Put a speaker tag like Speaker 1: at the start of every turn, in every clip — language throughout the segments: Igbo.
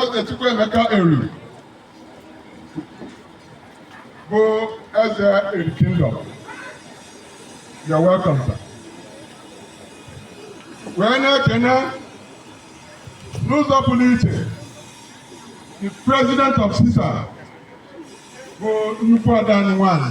Speaker 1: Eze Chukwuemeka Eri bụ eze Eri Kingdom. You are welcome, sir. Wee na-ekene n'ụzọ pụrụ iche the president of CISA bụ nnukwu ada anyị nwanyị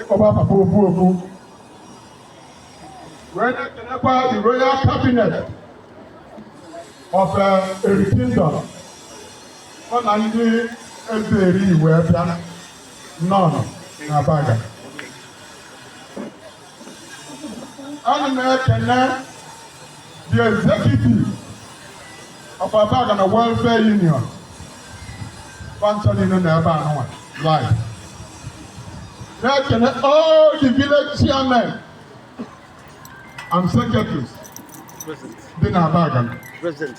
Speaker 1: ịkpọba papa ofu ofu wee na-ekenekwa the royal cabinet of uh, Eri Kingdom ọ na ndị Eze Eri wee bịa nọ n'Abagana ana m ekene the executive of Abagana Welfare Union fa ncha niine na ebe anụnwa live na-ekene all the village chairmen and secretaries dị na Abagana present.